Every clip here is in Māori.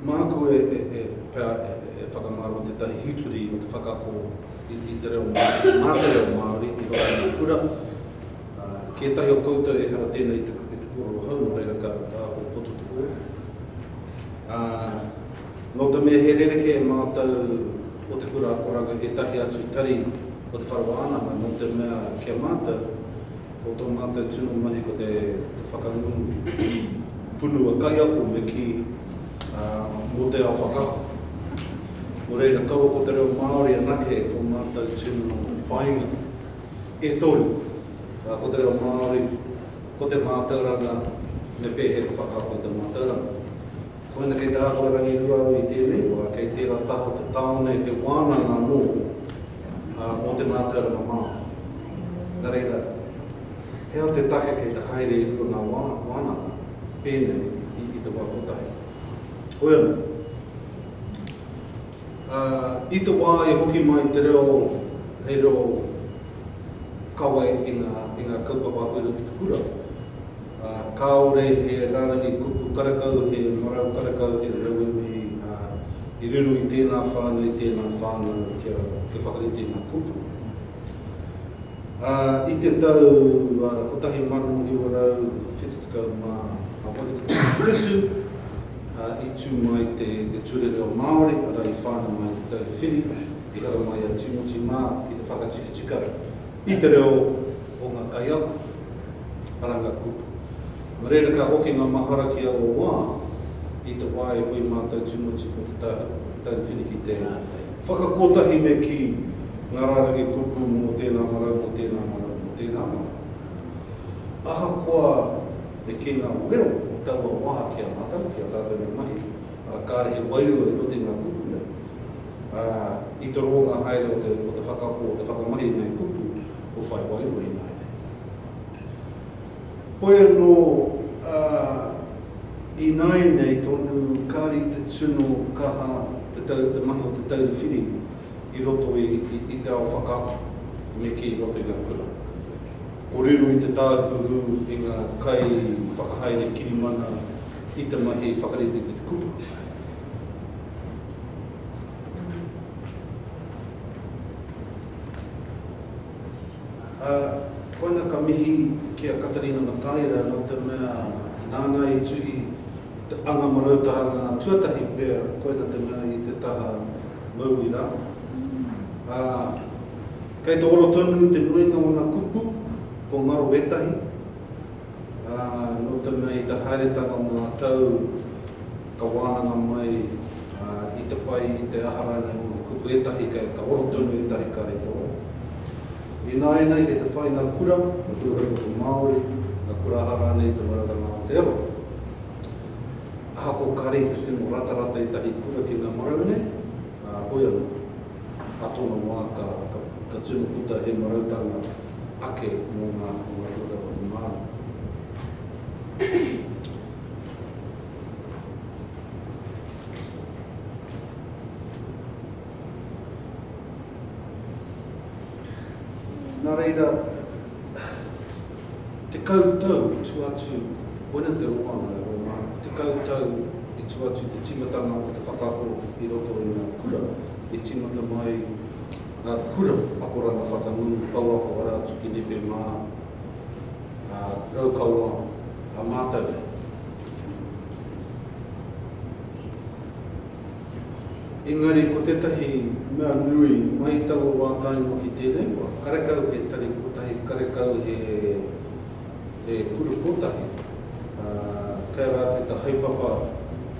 Māku e pea e whakamārama tētahi hitori o te whakaako i te reo Māori, mā te reo Māori i roto i ngā kura. Kētahi o koutou ehara tēnei i te kōrero hou, nō reira ka ako poto te kōrero. Nō te mea he rerekē e mātou o te kura akoranga ētahi atu tari o te whare wānanga, nō te mea ki a mātou Ko tō mātou tino mahi ko te whakangungu ki punua kaiako me kī, ā, mō te ao whakaako. Nō reira, kaua ko te reo Māori anake tō mātou tino whāinga. E toru, ā, ko te reo Māori, ko te mātauranga, me pēhea te whakaako i te mātauranga. Koina kei te āhua rangirua au i tēnei wā, kei tērā taha o te tāone he wānanga anō, ā, mō te mātauranga Māori. Nā reira, he aha te take kei te haere i runga ngā wānanga pēnei i te wā kotahi? Hoi anō, ā, i te wā i hoki mai te reo hei reo kawe i ngā kaupapa uru ki te kura, ā, kāore he rārangi kupu karakau, he marau karakau, he rauemi, ā, i riro i tēnā whānau, i tēnā whānau kia, kia whakarite ngā kupu. Ā, i te tau 1978 ā, i tū mai te, te Ture Reo Māori, arā, i whānau mai te Tauwhiri, i hara mai a Tīmoti mā ki te whakatikitika, I te reo o ngā kaiako, karanga kupu. Nō reira ka hoki ngā mahara ki aua wā i te wā e hui mātou tīmoti ko te tauwhiriki te whakakotahi me kī ngā rārangi kupu mō tēnā marau, mō tēnā marau, mō tēnā marau. Ahakoa me kī ngā wero o taua wā ki a mātou, ki a tātou nei mahi, arā kāre he wairua i roto i ngā kupu nei. Ā, i te ronga haere o te, o te whakaako, o te whakamahi i ngēi kupu kua whai wairua ināianei. Hoi anō, ā, ināianei tonu kāri te tino kaha te tau, te mahi o te tauri whiri i roto i, i, i te ao whakaako me kī i roto i ngā kura. Ko riro i te tāhuhu i ngā kai whakahaere kirimana i te mahi whakarite i te kupu. Ā, koina ka mihi ki a Katarina Mataira nō te mea nāna i tuhi te Anga Marautanga tuatahi pea, koina te mea i te taha mauri rā. Ā, kei te ora tonu te nuinga o ngā kupu, ko ngaro ētahi, Ā, nō te mea i te haeretanga o ngā tau ka wānanga mai i te pai i te aha rānei o ngā kupu ētahi kei ka oro tonu ētahi kare toa. Ināianei kei te whai ngā kura, ngā kura kaupapa Māori, ngā kura aha rānei i te maratanga o Aotearoa. Ahakoa kāre i te tino ratarata ētahi kura ki ngā marau nei, ā, hoi anō. Ka tōna wā, ka tino puta he marautanga ake mō ngā āhuatanga o te Māori. Nā reira. Tekau tau i tua atu, koina te roanga e Rōma, tekau tau i tua atu te tīmatanga o te whakaako i roto i ngā kura e tīmata mai ngā kura akoranga whakangungu pouako arā atu ki nepe mā ngā Raukawa a mātou. Engari ko tētahi mea nui mai taua wā tae noa ki tēnei wā, karekau he tari kotahi, karekau he he kura kotahi, ā, kei a rātou te haepapa,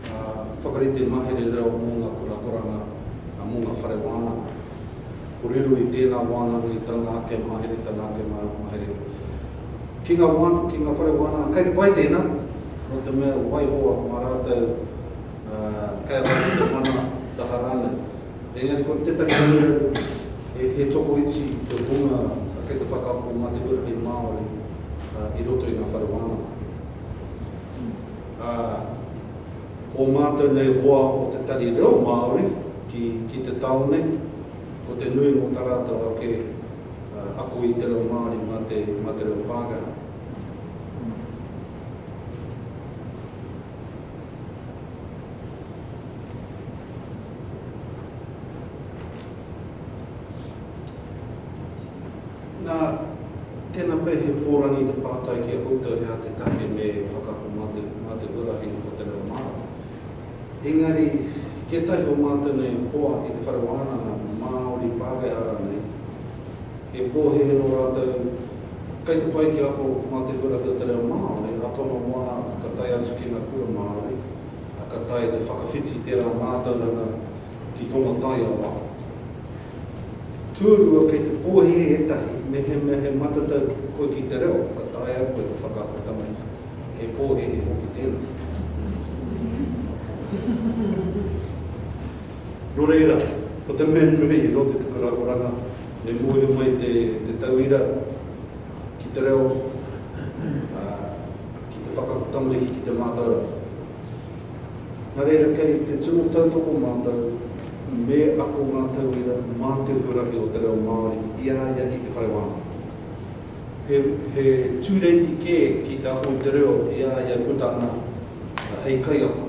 ā, whakarite mahere reo mō ngā kurakuranga, ā, mō ngā whare wānanga. Ko riro i tēnā wānanga i tana ake mahere, tana ake mahere ki ngā wāna, ki ngā whare wānanga, kei te pai tēnā, nō te mea waiho mā rātou Kei a rātou te mana taha rānei. Engari ko tētahi raruraru he tokoiti te hunga kei te whakaako mā te huarahi Māori i roto i ngā whare wānanga. Ā, ko mātou nei hoa o Te Tari Reo Māori ki te tāone, ko te nui mō tā rātou ake ako i te reo Māori mā te reo Pākehā. Nā, tēnā pea he pōrangi te pātai ki a koutou he aha te take me whakaako mā te, mā te huarahi o te reo Māori. Engari, kē tahi o mātou nei i hoa i te whare wānanga Māori Pākehā rānei, he pōhēhē nō rātou Kei te pai kia ako mā Te Kura Hira Te Reo Māori a Tono Moana ka tae atu ki ngā kura Māori, ā, ka taea te whakawhiti tērā mātauranga ki tōna taiao ako. Tuarua, kei te pōhēhē ētahi mehemea he matatau koe ki te reo, ka taea koe te whakaako tamariki. He pōhēhē hoki tēnā. Nō reira, ko te mea nui o te tuku rangoranga me mōhio mai te tauira ki te reo, ā, ki te whakako tamariki ki te mātauranga. Nā reira, kei te tino tautoko mātou me ako ngā tauira mā te huarahi o te reo Māori i a ia i te whare wānanga. He, he tūreiti kē ki te ako i te reo i a ia puta ana hei kaiako.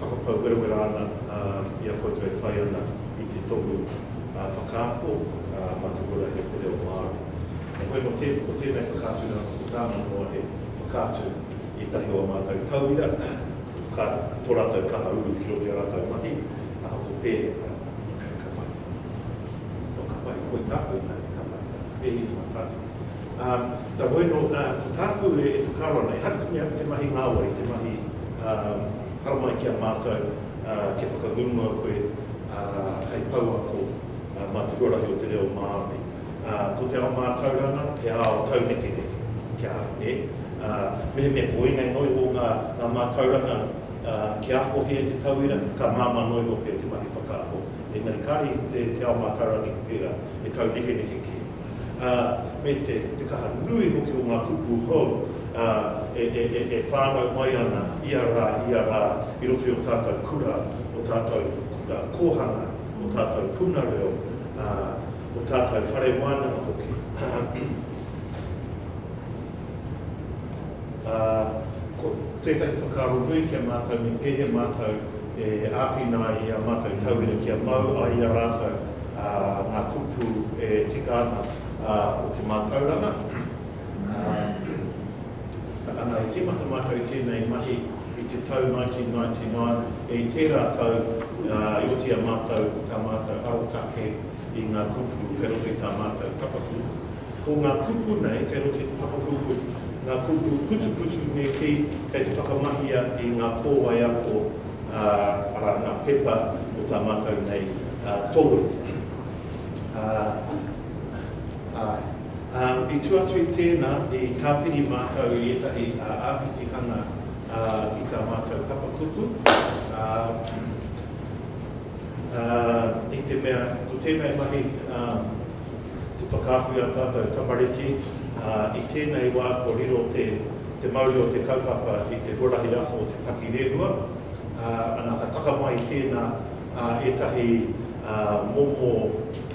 Whakapau werawera ana i a koutou e whai ana i te tohu whakaako Matukura e te reo Māori. Heoi anō, ko tēnei whakaatu rā, ko tāna noa he whakaatu ētahi o ā mātou tauira, ka tō rātou kaha uru ki roto i ā rātou mahi, ahako pēhea ka mahi. Kua ka mahi, koi tāku i mahi, ka mahi tāku, pēhea i te whakaatu. Ā, ka moe nō, ā, ko tāku e whakaaro ana, ehara te mea te mahi ngāwari, te mahi, ā, haramai ki a mātou, ā, kia whakangungua koe, ā, hei pouako, ā, mā te huarahi o te reo Māori. Ā, ko te ao mātauranga, he ao taunekeneke, kia, nē? Ā, mehemea koinei noi o ngā, ngā mātauranga, ā, kia ako hē te tauira, ka māmā noi nō pea te mahi whakaako. Engari kāre i te, te ao mātaurangi pērā, he taunekeneke kē. ā, me te, te kaha nui hoki o ngā kupu hou, ā, e, e, e, e whānau mai ana ia rā, ia rā, i roto i ō tātou kura, ō tātou kōhanga, ō tātou puna reo, ā, ō tātou whare wānanga hoki. Ā, ko tētahi whakaaro nui ki a mātou me pēhea mātou e āwhina ai i ā mātou tauira kia mau ai i a rātou ngā kupu e tika ana o te mātauranga. Ana, i tīmata mātou i tēnei mahi i te tau 1999, i tērā tau i oti a mātou tā mātou arotake i ngā kupu kei roto i tā mātou papaku. Ko ngā kupu nei kei roto i te papakupu, ngā kupu putuputu me kī, kei te whakamahia i ngā kōwae ako, ā, arā, ngā pepa o tā mātou nei tohu. Ā, āe. Ā, i tua atu i tēnā, i tāpiri mātou i ētahi āpitihanga ki tā mātou papakupu, ā, i te mea ko tēnei mahi te whakaatu i a tātou tamariki, i tēnei wā kua riro te mauri o te kaupapa i te huarahi ako o te pakirehua, ana ka taka mai i tēnā ētahi momo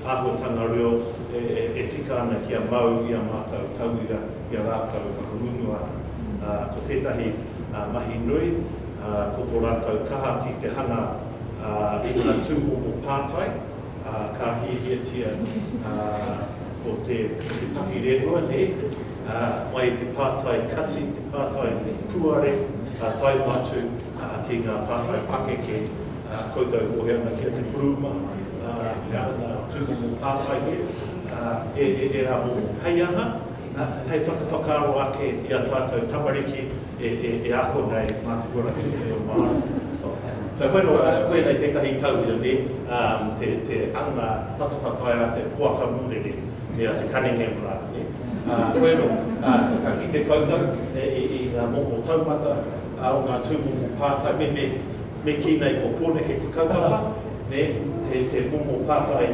āhuatanga reo e tika ana kia mau i a mātou tauira i a rātou e whakangungu ana. Ko tētahi mahi nui ko tō rātou kaha ki te hanga I ngā tūmomo pātai ka hiahiatia ko te pakirehua nei mai i te pātai kati, te pātai puare ka tae atu ki ngā pātai pakeke koutou e wehe ana ki a Te Puruma me ana tūmomo pātai nei e rā momo hei aha. hei whakawhakaaro ake i a tātou tamariki e ako nei mā te huarahi reo Māori. Kei whai noa rā koe hei tētahi tauira nē, te anga patapatai a te poaka murere, me a te Cunningham rā, nē? Koe anō, ka kite koutou i ngā momo taumata o ngā tūmomo pātai, me kī nei ko kōneke te kaupapa, nē, he momo pātai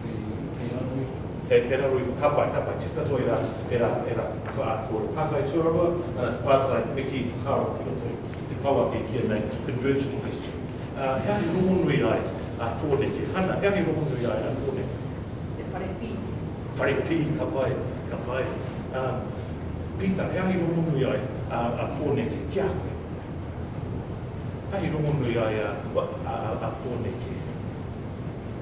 Kei raro iho. Kei raro iho, ka pai, ka pai, tika katoa e rā, e rā, e rā, ka kōrero pātai tuarua, ā, te pātai me kī whakaaro ki roto i te pou a kei kīa nei convergent question. Ā, he ahi rongonui ai a Pōneke. Hana, he ahi rongonui ai a Pōneke? He whare pī. Whare pī, ka pai, ka pai. Ā, Pita, he ahi rongonui ai a, a Pōneke ki a koe? He ahi rongonui ai a, a, a Pōneke.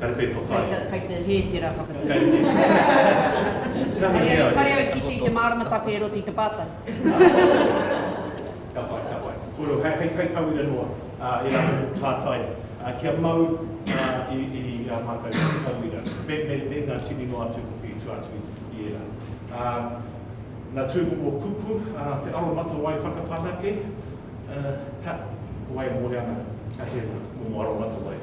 Kare pei whakaae. Kei te, kei te hē tērā whakatū. Kare au, kare au kite i te mārama take e roti i te pātai. Ka pai, ka pai. Kōrero, hei, hei, hei tauira noa, ā, e rā anō ko tātai, ā, kia mau, ā, i, i a mātou ki te tauira. Me, me, me ngā tini noa atu hoki i tua atu i ērā. Ā, ngā tūmomo kupu, ā, te aromatawai whakawhanake, ā, ka, ko wai e mōhio ana, ka hē momo aromatawai.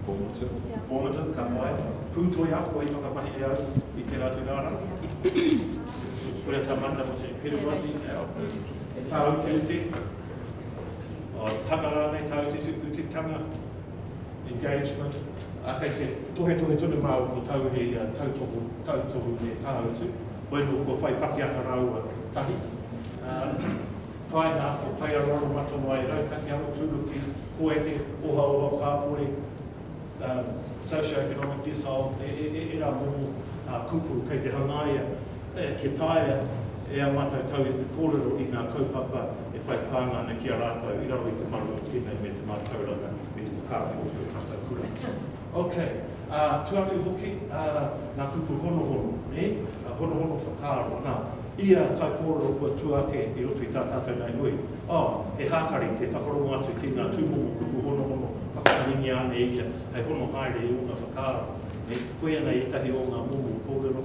Formative. Formative, ka pai. Pūtoi ako i whakamahi e au i tērā tū rārangi. Koia tā Mata ko te peruwati. He tāu te uti. O tanga rānei tāu te uti tanga. Engagement. A kei te tohe tohe tonu māu ko tāu he ia tautohu, tautohu me tāu tū. Koe nō kua whai pakiaka rāua tahi. Whaina o Paearoaro Matawai Rautaki Aroturuki Koeke Ohaoha Kāpori Socio-economic Decile Ērā momo kupu kei te hangaia kia taea e a mātou tau i te kōrero i ngā kaupapa e whai pānga ana ki a rātou i raro i te marau o tēnei me te mātauranga me te whakaaro o tō tātou kura. Ok, ā, tu atu hoki, ā, ngā kupu honohono, nē, honohono whakaaro, nā, Ia kai kōrero kua tua ake i roto i tā tātou nei hui, ā, he hākari te whakarongo atu ki ngā tūmomo kupu honohono whakaharingia ane ia hei hono haere i ōna whakaaro. Koia nei ētahi o ngā momo kōrero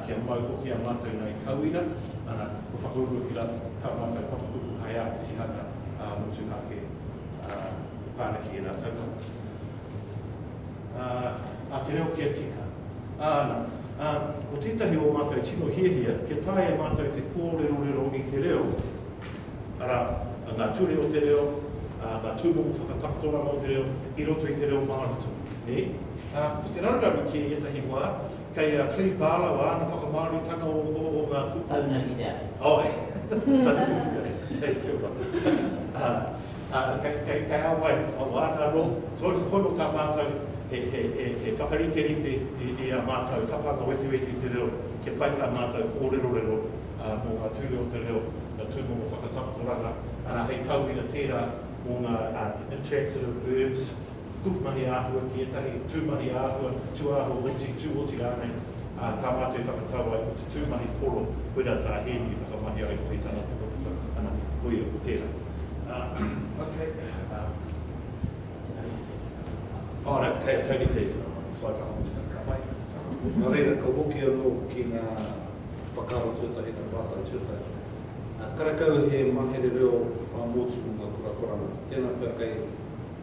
kia mau hoki a mātou nei tauira, ana, kua whakaurua ki rātou tā mātou papakupu hai āpitihanga motuhake i pana ki ērā kaupapa a te reo kia tika, ana. Ā, ko tētahi o mātou tino hiahia, kia taea e mātou te kōrerorero i te reo, arā, ngā ture o te reo, ā, ngā tūmomo whakatakotoranga o te reo, i roto i te reo Māori tonu, nē? Ā, ko te raruraru kē ētahi wā, kei a Clive Barlow āna whakamāoritanga o, o, o ngā kupu. Taunaki te āhua. Āe. Taunaki te āhua, hei, kia ora. Ā. Ā, kei te ao ai, o āna rō, tonu pono tā mātou e whakariterite i ā mātou tapanga wetiweti i te reo, kia pai tā mātou kōrerorero mō ngā ture o te reo, ngā tūmomo whakatakotoranga, arā, hei tauira tērā mō ngā intransitive verbs, pukumahi āhua ki ētahi tūmahi āhua, tūāhua oti, tū oti rānei, ā, ka mātou i whakatau ai ko te tūmahi poro, koirā tā Hēni i whakamahi ai koe i tana pukapuka, ana, koia, ko tērā. Okay, ā, ā, nā, kei, kei rite i tana mahi, so I whakamutu mai, ka pai, nō reira, ka hoki anō ki ngā whakaaro tuatahi, ngā pātai tuatahi. Karekau he mahere reo ā-motu mō ngā kurakuranga, tēnā pea kei.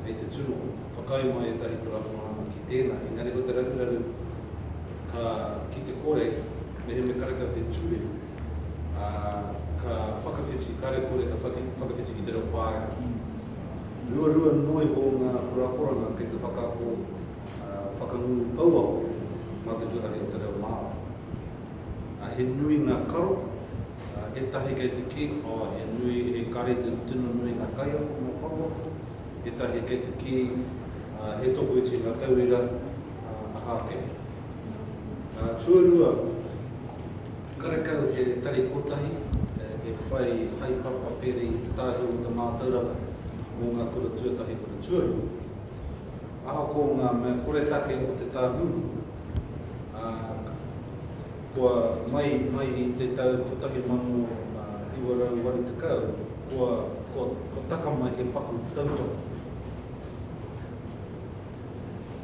Kei te tū o. Whakaae mai ētahi kuramoana ki tēnā, engari ko te raruraru ka ki te kore mehemea karekau he ture, ā, ka whakawhiti, kare kore ka whakawhiti ki te reo Pāeha. Ruarua noa iho ngā kuraporanga kei te whakaako, ā, whakangungu pouako mā te huarahi o te reo Māori. Ā, he nui ngā karo. Etahi kei te ki, oh, he nui, he kare te tino nui nga kaiako mo Papa. Etahi kei te ki, ah, he tokoiti nga tauira, ah, aha ake. Ah, tuarua, karekau he tari kotahi e whai haepapa peri tahi mo te mātauranga mo nga kura tuatahi kura tuarua. Ahakoa nga mea koretake o te tāhuhu, ah, Kua mai mai i te tau 1980, kua, kua, kua taka mai he paku tautoko.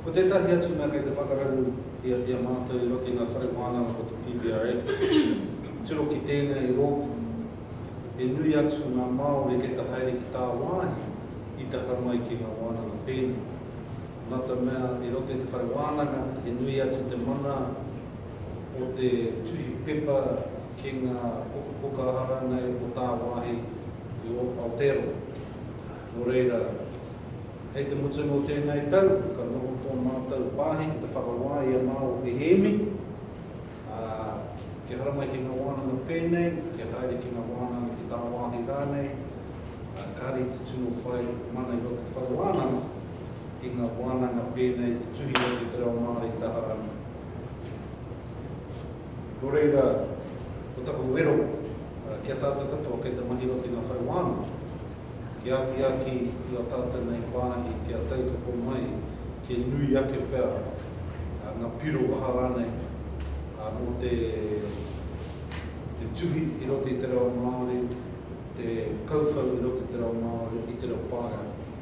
Ko tētahi atu mea kei te whakararu i a, i a mātou i roto i ngā whare wānanga ko te PBRF, tiro ki tēnei rōpū, he nui atu ngā Māori kei te haere ki tāwāhi i te hau mai ki ngā wānanga pēnei. Nā te mea i roto i te whare wānanga, he nui atu te mana, o te tuhi pepa ki ngā pukapuka hāngai o tāwāhi i Aotearoa. Nō reira, hei te mutunga o tēnei tau, ka noho tō mātou pāhi ki te whakawā i a Māo e Hēmi, ā, kia haramai ki ngā wānanga pēnei, kia haere ki ngā wānanga ki tāwāhi rānei, ā, kāre i te tino whai mana i roto i te whakawānanga i ngā wānanga pēnei te tuhi atu te reo Māori taha rānei. Nō reira, ko taku wero ki a tātou katoa kei te mahi oti ngā whare wānanga, kia akiaki i ō tātou nei wāhi, kia tautoko mai, kia nui ake pea ngā piro waha rānei mō te tuhi i roto i te reo Māori, te kauwhau i roto i te reo Māori, i te reo Pākehā.